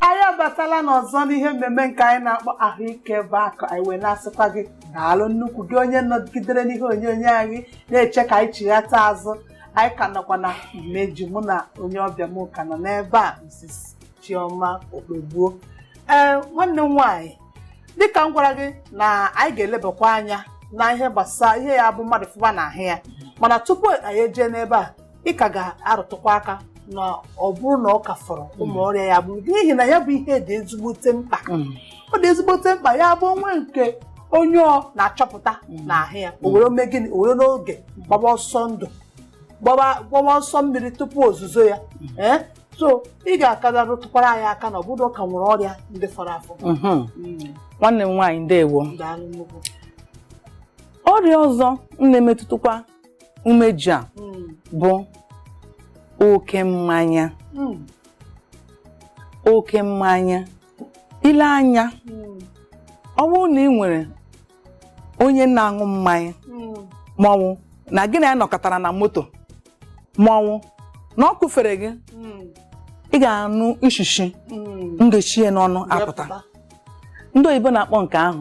anyị abatala n'ọzọ n'ihe mmemme nke anyị na-akpọ ahụike bụ akụ anyị wee na-asịkwa gị daalụ nnukwu gị onye nọgidere n'ihe onyonyo anyị na-eche ka anyị chighata azụ anyị ka nọkwa na imeju mụ na onye ọbịa m ka nọ n'ebe a Mrs. Chioma Okpegbuo ee nwanne m nwaanyị dịka m gwara gị na anyị ga-elebakwa anya na ihe gbasara ihe ya bụ mmadụ fụba na ahụ ya mana tupu anyị ejee n'ebe a ị ka ga-arụtụkwa aka na ọ bụrụ na ọ ka fọrọ ụmụ ọrịa ya bụ n'ihi na ya bụ ihe dị ezigbote mkpa Mm. ọ dị ezigbote mkpa ya bụ o nwee nke onye ọ na-achọpụta Mm. n'ahụ ya o were mee gịnị o were n'oge gbaba ọsọ ndụ gbaba gbaba ọsọ mmiri tupu ozuzo ya ee so ị ga-akara rụtụkwara anyị aka na ọ bụrụ na ọ ka nwere ọrịa ndị fọrọ afọ Mhm. Mm, nwanne m nwaanyị ndewo daalụ nnukwu ọrịa ọzọ na-emetụtakwa umeji a Mm. bụ oke mmanya Mm. oke mmanya ị lee anya Mm. ọ bụrụ na ị nwere onye na-aṅụ mmanya Mm. maọwụ na gị na ya nọkọtara na moto maọwụ na ọ kụfere gị Mm. ị ga-anụ ishishi Mm. na-eshi ya n'ọnụ apụta Wepụta. ndị oyibo na-akpọ nke ahụ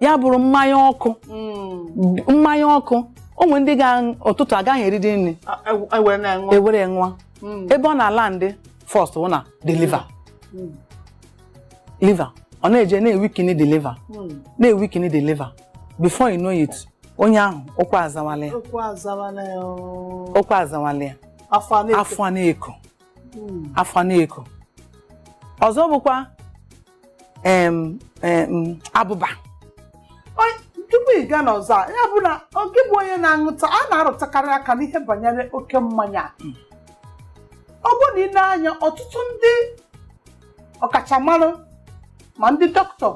ya bụrụ mmanya ọkụ Mm. mmanya ọkụ o nwere ndị ga ụtụtụ agaghị eridi nri A- e- e were na-aṅụ. ewere ṅụọ Mm. ebe ọ na-alandị first wụ na the liver Mm. liver ọ na-eje na-ewikini the liver Mm. na-ewikini the liver before you know it onye ahụ ụkwụ azawala ya Ụkwụ azawala ya. oo. ụkwụ azawala ya Afọ a na-eko. afọ na-eko Mm. afọ na-eko ọzọ bụkwa em, em, abụba Onye- tupu ị gaa n'ọzọ a, ya bụ na ọ gị bụ onye na-aṅụta a na-arụtụkarị aka n'ihe banyere oke mmanya ọ bụ na ị lee anya ọtụtụ ndị ọkachamara ma ndị dọkịta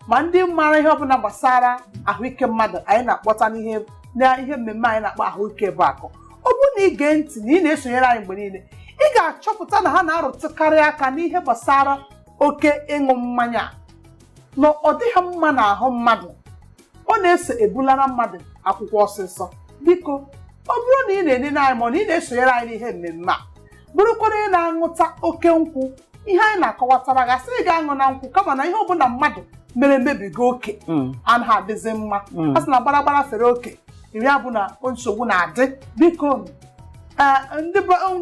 ma ndị maara ihe ọbụla gbasara ahụike mmadụ anyị na-akpọta n'ihe na ihe mmemme anyị na-akpọ ahụike bụ akụ ọ bụ na ị gee ntị na ị na-esonyere anyị mgbe niile ị ga-achọpụta na ha na-arụtụkarị aka n'ihe gbasara oke ịṅụ mmanya na ọ dịghị mma n'ahụ mmadụ ọ na-eso ebulara mmadụ akwụkwọ ọsịsọ biko ọ bụrụ na ị na-enene anyị ma ọ na ị na-esonyere anyị n'ihe mmemme a bụrụkwa na ị na-aṅụta oke nkwụ ihe anyị na-akọwatara gị asịghị gị aṅụna nkwụ kama na ihe ọ bụla mmadụ mere mebiga oke anaghị adịzi mma a sị na gbaragbara fere oke iri abụ na nsogbu na-adị biko ee ndị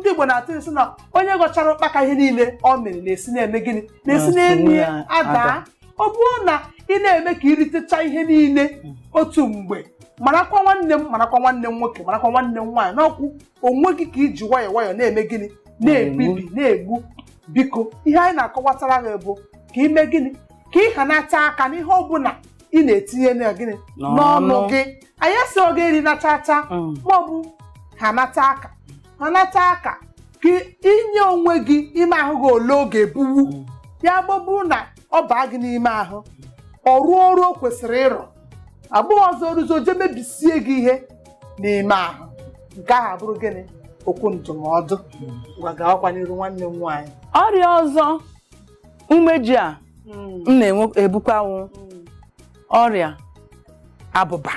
Igbo na-atụ ilu sị na onye ghọchara ụkpaka ihe niile ọ mịrị na-esi na-eme gịnị na-esi Na-esi n'elu ya na- adaa ada. ọ bụrụ na ị na-eme ka i ritecha ihe niile otu mgbe marakwa nwanne m marakwa nwanne m nwoke marakwa nwanne m nwaanyị na ọ wụ onwe gị ka i ji nwayọọ nwayọọ na-eme gịnị na-ebibi na-egbu biko ihe anyị na-akọwatara gị bụ ka i mee gịnị ka ị hanata aka n'ihe ọ bụla ị na-etinye na gịnị n'ọnụ N'ọnụ. gị anyị asịghị gị erina chaa chaa Mm. maọbụ hanata aka hanata aka ka i nye onwe gị ime ahụ gị ole ọ ga-ebuwu Mm. ya ga-abụrụ na ọ baa gị n'ime ahụ ọ rụọ ọrụ o kwesịrị ịrụ abụghị ọzọ o ruzie o je mebisie gị ihe n'ime ahụ nke ahụ abụrụ gịnị okwu ndụmọdụ ngwa gawakwa n'iru nwanne m nwaanyị ọrịa ọzọ umeji a na-ebukwa wụ ọrịa abụba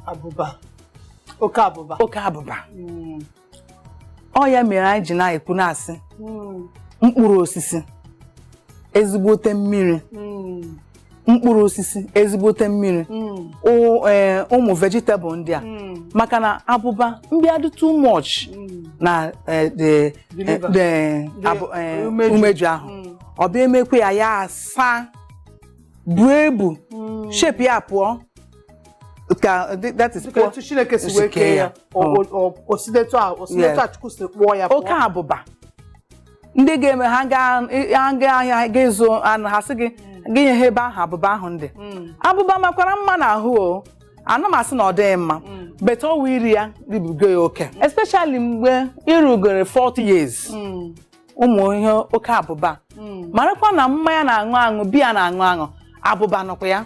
abụba oke abụba oke abụba Mm, ọ ya mere anyị ji na-ekwu na-asị mm, mkpụrụ osisi ezigbote mmiri mm, mkpụrụ osisi ezigbote mmiri mm, ụ- ee, ụmụ vegetable ndị a mm, maka na abụba mbịa dị too much mm, na eh, the The liver. the The abụ- eh, umeju. umeju ahụ mm. ọ bịa emekwa ya ya asaa buo ibu shape ya pụọ ka dị- that is Dịka pụọ etu Chineke si wee kee ya, o- Mm. o- o- o si n'etu a- o si n'etu a Chukwu si kpụọ ya oke pụọ. abụba ndị ga-eme ha gaa ha gaa ahịa ga ịzụ anụ ha sị gị gị nye ha ebe ahụ abụba ahụ dị abụba makwara mma n'ahụ o ana m asị na ọ dịghị mma but ọ wụ iri ya ribiga ya oke especially mgbe i rugoro 40 years ụmụ ihe oke abụba Mm. marakwa na mmanya a na-aṅụ aṅụ biya a na-aṅụ aṅụ abụba nọkwa ya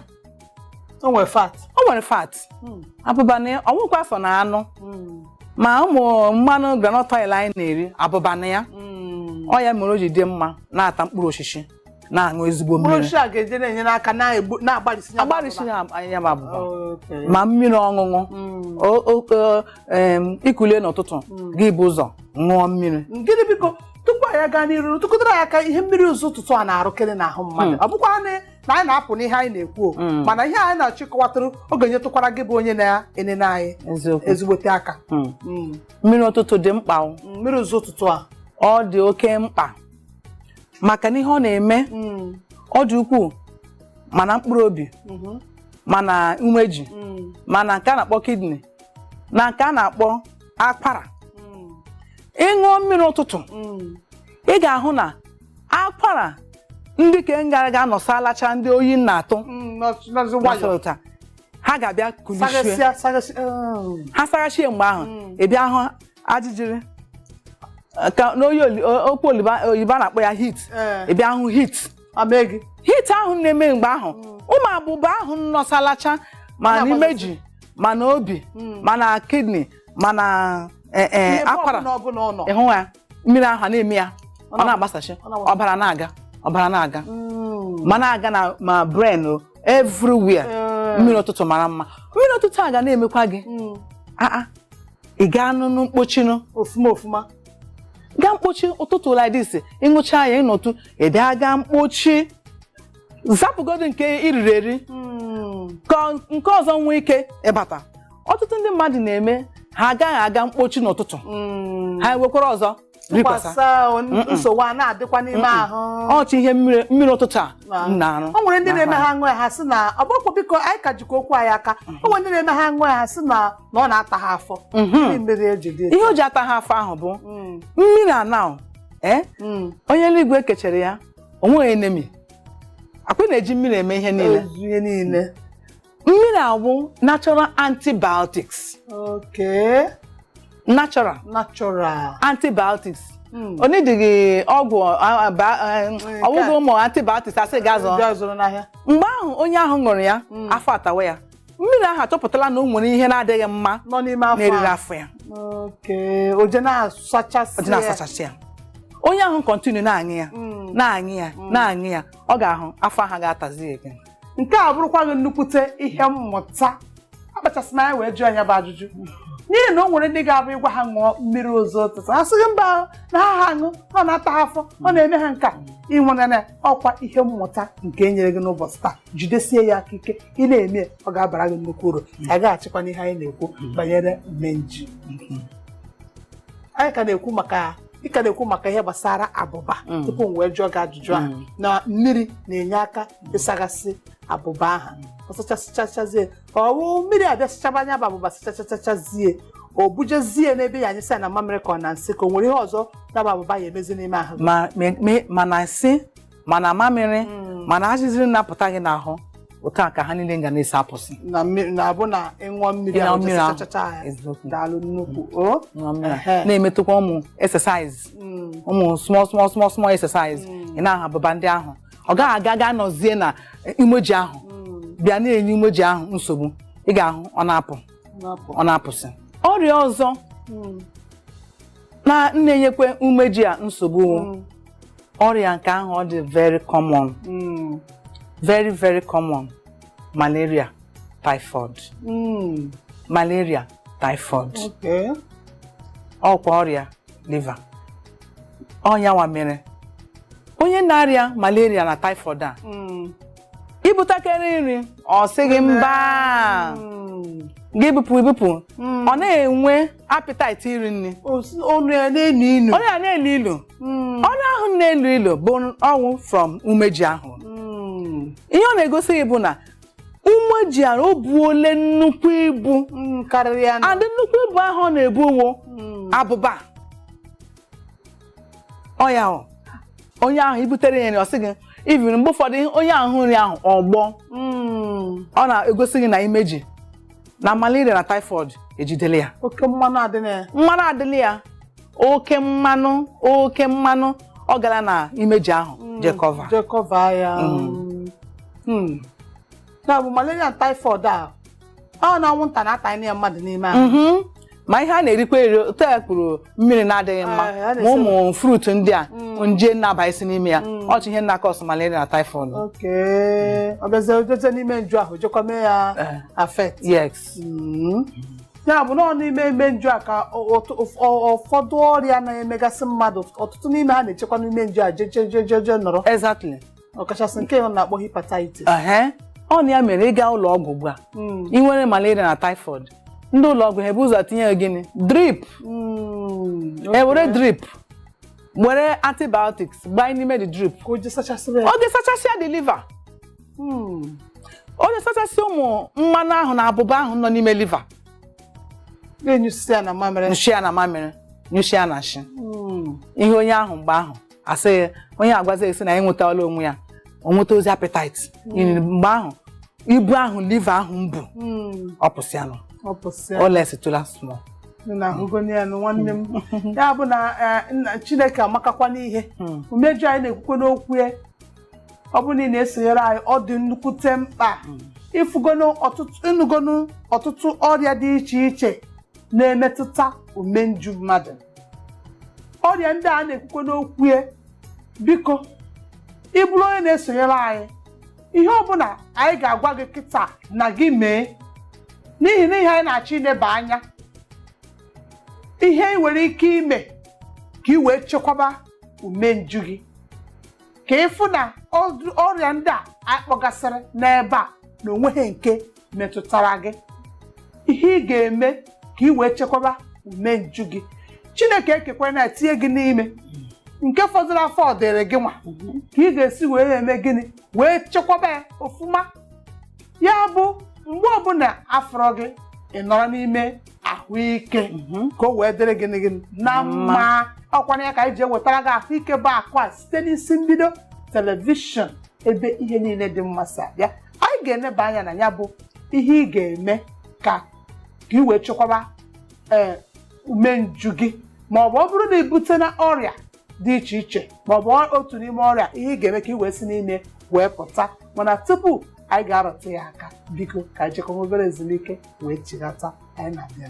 o nwere fat o nwere fat Mm. abụba nọ ya ọ wụkwa sọ na anụ Mm. ma ụmụ mmanụ groundnut oil anyị na-eri abụba nọ ya Mm. ọ ya mere o ji dị mma na-ata mkpụrụ osisi na-aṅụ ezigbo mmiri mkpụrụ a ga-eje na-enyere aka na-agbarisi ya abụba ma mmiri ọṅụṅụ mm. i kulie n'ụtụtụ mm. gị bu ụzọ ṅụọ mmiri gịnị biko tupu anyị agaa n'iru rụtụkwara ya aka ihe mmiri ụzọ ụtụtụ a na-arụkere n'ahụ mmadụ mm. ọ bụkwa na anyị na-apụ n'ihe anyị na-ekwu mana ihe anyị na-achọ ịkọwatụrụ ọ ga-enyetụkwara gị bụ onye na-enene anyị ezigbote aka mmiri ụtụtụ dị mkpa mmiri ụzọ ụtụtụ a ọ dị oke mkpa maka na ihe ọ na-eme mm. ọ dị ukwuu ma na mkpụrụ obi mm-hmm. ma na umeji mm. ma na nke a na-akpọ kidney na nke a na-akpọ akwara mm. ị ṅụọ mmiri ụtụtụ ị ga-ahụ na akwara ndị ka ngara ga-anọsalacha ndị oyi na-atụ ha ga-abịa kulichie oh. ha saghachie mgbe ahụ ị bịa hụ ajijiri ka n'oyi oli- o- okwu oliba- oyibo a na-akpọ ya heat Ee. ị bịa hụ heat Eme gị. heat ahụ na-eme mgbe ahụ ụmụ abụba ahụ nọsalacha ma Na-agbazasị. n'imeji ma na obi ma na kidney ma na eh, eh, Ihe akwara ọbụla ọbụla ọ nọ. ịhụ ya mmiri ahụ a na-eme ya ọ na- na-agbasachi ọ na-agbasachi. ọbara na-aga ọbara na-aga Mm. ma na-aga na ma brain o everywhere Ee. mmiri ụtụtụ mara mma mmiri ụtụtụ a ga na-emekwa gị Mm. aa ị gaa n'ụlọ mkpochinu ọfụma ọfụma gaa mkpochi ụtụtụ like this ị ṅụcha ya ị nọtụ ị bịa gaa mkpochi zapụgodo nke i riri eri ka nke ọzọ nwee ike ịbata ọtụtụ ndị mmadụ na-eme ha agaghị aga mkpochi n'ụtụtụ ha ewekwara ọzọ tụkwasa nsogbu a na-adịkwa n'ime ahụ ọchị ihe mmiri mmiri ụtụtụ a na-arụ o nwere ndị na-eme ha aṅụ ya ha sị na ọ bụkwa biko anyị ka jikwa okwu anyị aka o nwere ndị na-eme ha aṅụ ya ha sị na na ọ na-ata ha afọ Ndị mmiri eji dị ihe o ji ata ha afọ ahụ bụ Mm, mmiri a na ee mm. onye eluigwe kechere ya o nweghị enemy akwa ị na-eji mmiri eme ihe niile Ezu ihe niile mmiri a wụ natural antibiotics Okay. natural Natural. antibiotics Mm. ọ needịghị ọgwụ a- a- ba- a- Nke a. ọgwụgwọ ụmụ antibiotics a sị gaa zụọ Ndị a zụrụ n'ahịa. mgbe ahụ onye ahụ ṅụrụ ya Mm. afọ atawa ya mmiri ahụ achọpụtala na o nwere ihe na-adịghị mma Nọ n'ime afọ. na-eriri a. afọ ya Okay. O je na-asachasị ọ dị ya. na-asachasị ya onye ahụ continue na-aṅụ ya Mm. na-aṅụ ya na-aṅụ ya ọ ga-ahụ afọ ahụ ga-atazi ya again. nke a bụrụkwa gị nnukwute ihe mmụta akpachasị m anya wee jụọ ya bụ ajụjụ n'ihi na o nwere ndị ga-abụ ị gwa ha ṅụọ mmiri ụzọ ụtụtụ ha sị gị mba na ha ha aṅụ ọ na-ata ha afọ ọ na-eme ha nka ị nwere na ọkwa ihe mmụta nke e nyere gị n'ụbọchị taa jidesie ya aka ike ị na-eme ya, ọ ga-abara gị nnukwu uru anyị gaghachikwa n'ihe anyị na-ekwu banyere imeji anyị ka na-ekwu maka ị ka na-ekwu maka ihe gbasara abụba Mm. tupu m wee jụọ gị ajụjụ a Mm. na mmiri na-enye aka ịsagasị abụba ahụ ọ sachasịchachazie ka ọ wụ mmiri abịa sịchaba nya bụ abụba sịchachachachazie o bujezie n'ebee ya anyụsị ya na mamịrị ka ọ na nsị ka o nwere ihe ọzọ ya bụ abụba ya emezi n'ime ahụ ma me- me- ma na nsị ma na mamịrị ma na ajịjịrị na-apụta gị n'ahụ otu a ka ha niile ga na-esi apụsị na mmiri na abụ na ị ṅụọ mmiri Ịṅụọ ahụ mmiri ahụ. chachachacha ya Eziokwu. daalụ nnukwu o Ṅụọ mmiri a. Ehe. na-emetụkwa ụmụ exercise Mm. ụmụ small small small small exercise ị na-aha abụba ndị ahụ ọ gaghị aga ga nọzie na umeji ahụ bịa na-enye umeji ahụ nsogbu ị ga-ahụ ọ na-apụ ọ na-apụsị ọrịa ọzọ na na-enyekwa umeji a nsogbu ọrịa nke ahụ ọ dị very common very very common malaria typhoid malaria typhoid ọ wụkwa ọrịa liver ọ yanwa mere onye na-arịa malaria na typhoid a Mm. i butakere nri ọ sị gị mba Mm. gị bupụ ibupụ Mm. ọ na-enwe appetite iri nri O si- Ọnụ ya na-elu ilu. ọnụ ya na-elu ilu Mm. ọnụ ahụ na-elu ilu bụ ọ wụ from umeji ahụ Mm. ihe ọ na-egosi gị bụ na umeji ahụ o buole nnukwu ibu Mm, karịrị ya and nnukwu ibu ahụ ọ na-ebu wụ Mm. abụba ọ ya ahụ onye ahụ i butere ya nri ọ sị gị even mgbe ụfọdụ onye ahụ hụ nri ahụ ọ gbọọ Mm. ọ na-egosi gị na imeji na malaria na typhoid ejidela ya oke mmanụ adịla ya mmanụ adịla ya oke mmanụ oke mmanụ ọ gara na imeji ahụ jekọva jekọva ya Mm. Mm. ya bụ malaria and typhoid a ọ na anwụnta na-atanye ya mmadụ n'ime ahụ Mhm. ma ihe a na-erikwa eri otu e kwuru mmiri na-adịghị mma Ah, a ma na-esi- ụmụ fruit ndị a Mm. nje na-abasị n'ime ya Mm. ọ cha ihe na-acause malaria na typhoid okay ọ bịazie o jeje n'imenju ahụ jekwa mee ya Eh. affect yes Mm. ya bụ na ọ n'ime ime nju a ka ọtụ- ụf- ọ- ụfọdụ ọrịa na-emegasị mmadụ ọtụtụ n'ime ha na-echekwa n'imenju a jejejejeje nọrọ exactly ọkachasị nke a na-akpọ hepatitis ehe ọ na ya mere ị gaa ụlọ ọgwụ ugbu a Mm. ị nwere malaria na typhoid ndị ụlọ ọgwụ ha ebu ụzọ tinye gị gịnị drip Mm. e were drip were antibiotics gbanye n'ime the drip ka o je sachasịrị ya ọ ga-esachasịa the liver Hmm. ọ na-esachasị ụmụ mmanụ ahụ na abụba ahụ nọ n'ime liver na-anyụsịsị ya na mamịrị nyụsịa ya na mamịrị nyụsịa ya na nshị Hmm. ihe onye ahụ mgbe ahụ a sị gị onye agwazi gị sị na ya enwetala onwe ya o nwetazie appetite N'ihi mgbe ahụ ibu ahụ liver ahụ bu Hmm. ọ pụsịanụ ọ pụsị ya. o lessitụla small na ahụgonye ya nụ nwanne m ya bụ na eh, nna chineke amakakwa n'ihe Hmm. umeju anyị na-ekwukwe n'okwu ya ọ bụrụ na ị na-esonyere anyị ọ dị nnukwute mkpa ị fụgonu ọtụtụ ị nụgonu ọtụtụ ọrịa dị iche iche na-emetụta umenju mmadụ ọrịa ndị a na-ekwukwe n'okwu ya biko ị bụrụ onye na-esonyere anyị ihe ọbụla anyị ga-agwa gị kịta na gị mee n'ihi na ihe anyị na-achọ ileba anya ihe ị nwere ike ime ka ị wee chekwaba umenju gị ka ịfụ na ọdụ- ọrịa ndị a a kpọgasịrị n'ebe a na onweghị nke metụtara gị ihe ị ga-eme ka ị wee chekwaba umenju gị chineke ekekwana tinye gị n'ime nke fọdụrụ afọ ọ dịrị gị nwa ka ị ga-esi wee eme gịnị wee chekwaba ya ọfụma ya bụ mgbe ọbụla a fụrụ gị ị nọrọ n'ime ahụike mhm. ka o wee dịrị gị gị na mma ọkwana ya ka anyị ji ewetara gị ahụike bụ akụ a site n'isi mbido telivishọn ebe ihe niile dị mma si abịa anyị ga-eneba anya na ya bụ ihe ị ga-eme ka ị wee chekwaba ee eh, umenju gị ma ọ bụ ọ bụrụ na i butena ọrịa dị iche iche maọbụ otu n'ime ọrịa ihe ị ga-eme ka ị wee si n'ime wee pụta mana tupu anyị ga-arụtụ ya aka biko ka anyị jekọọ obere ezumike wee chighata anyị na-abịa